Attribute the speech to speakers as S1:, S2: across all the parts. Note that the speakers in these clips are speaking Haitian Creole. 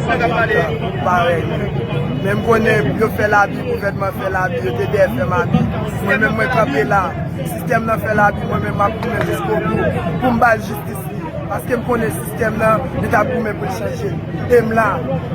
S1: Sa kap pale a moun parèy mwen. Menm konnen yo fè labi gouvènman fè labi yo te dèyè fèm abi mwen menm mwen kanpe la sistèm nan fè labi mwen menm map goumen jiskobou poum bal jistis li paskem konnen sistèm nan li tap goumen poul chanje em la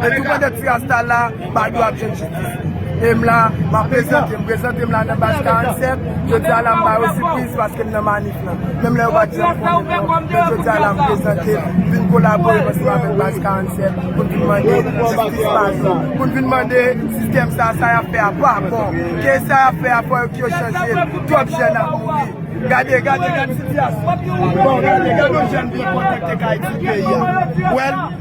S1: depi pandan ti rasta la badou ap jwenn jistis li em la map prezante m prezante m la nan baz 47 jodia la m bayo sipriz paskem nan manif. Menm lè yo pa t janm konnen non, men jodi a l ap prezante l, vin kolabore ansanm avèk Baz 47 pou n vin mande jistis pa nou, pou n vin mande sistèm sa a, sa y ap fè a pa bon, ke sa y ap fè a fò yo chanje l, twòp jèn ap mouri. Gade, gade, gade sitiyasyon. Bon, gade, gade yon jèn vin kontakte kay ti peyi a. Ou wè l?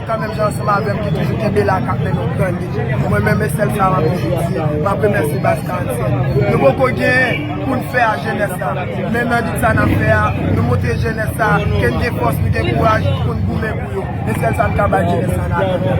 S1: Kan menm jan ansanm avèm ki toujou kenbe la kap mennen w gran lit. Mwen menm e sèl sa map toujou di, map remèsye Baz 45. Nou poko genyen poun fè a jenès la, men nan lit sa nap fè a, nou montre jenès sa ke n gen fòs, nou gen kouraj poun goumen pou yo. E sèl sa n
S2: ka bay jenès sa nan atann.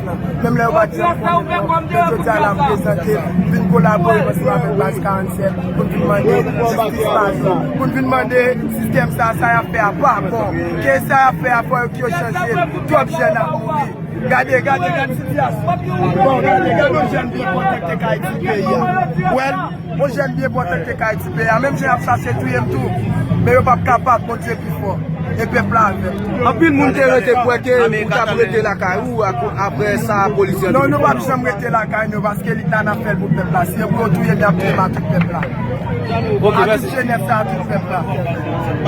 S1: Menm lè yo pa janm konnen non, men jodi a n ap prezante vin kolabore ansanm avèk Baz 47 pou n vin mande jistis pa nou, pou n vin mande sistèm sa a sa y ap fè a pa bon, ke sa y ap fè a fò yo chanje l, twòp jèn ap mouri. Gade, gade, gade sitiyasyon, bon gade, gade yon jèn byen pòte k te ka etidye yè, wè l. Yon jèn byen pòtan te kay ti pè a menm jan yap chache touyem tou men yo pap kapab Bondye pi fò e pèp la avèm. Anpil moun te
S2: rete kwè ke ou tap rete lakay ou aprè sa polis yo. Non nou pap janm rete
S1: lakay nou paske lit la nap fèl pou pèp la si yo pou yo touyem yap touyem a tout pèp la a tout
S2: jenès la
S1: a tout
S2: pèp
S1: la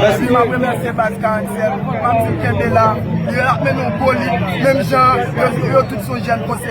S1: epi map remèsye baz 47 map di kenbe la yo ap mennen yon gwo lit menm jan yo tout son jèn konseye.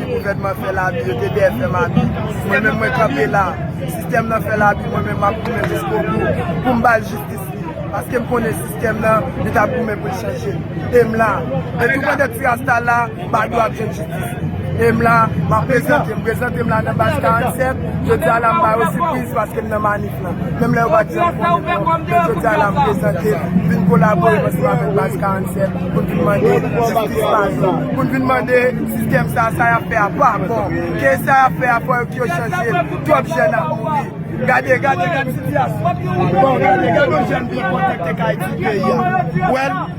S1: Gouvènman fè labi, yo te dèyè fè labi. Mwen menm mwen kanpe la. Sistèm nan fè labi, mwen menm map goumen jiskobou pou m bal jistis li. Paske m konnen sistèm nan, li tap goumen pou l chanje. E m la. E tou pandan ti rasta la, Badou ap jwenn jistis li. E m la, map prezante m. Prezante m la nan baz 47. Jodi a la m ba yo sipriz paske m nan manif. Menm lè yo pa t janm konnen non, men jodi a la m prezante vin kolabore ansanm avèk Baz 47 pou n vin mande jistis pa yo, pou n vin mande sistèm sa a sa y ap fè a pa bon, ke sa y ap fè a fò yo chanje l, twòp jèn ap mouri. Gade, gade, gade sitiyasyon. Bon, gade, gade yon jèn vin kontakte kay ti peyi a. Ou wè l?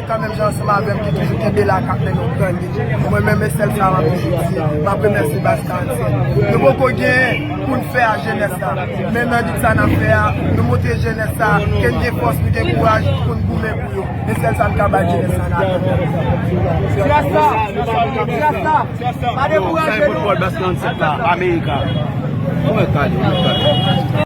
S1: Kan menm jan ansanm avèm ki toujou kenbe la kap fè nou grandi mwen menm e sèl sa map toujou di map remèsye baz karantyen nou poko gen poun fè a jenès la men nan lit sa nap fè a nou montre jenès sa ke n gen fòs nou gen kouraj poun goumen pou yo e sèl sa m ka bay jenès
S2: sa nan atann jenès la jenès la pa dekouraje nou.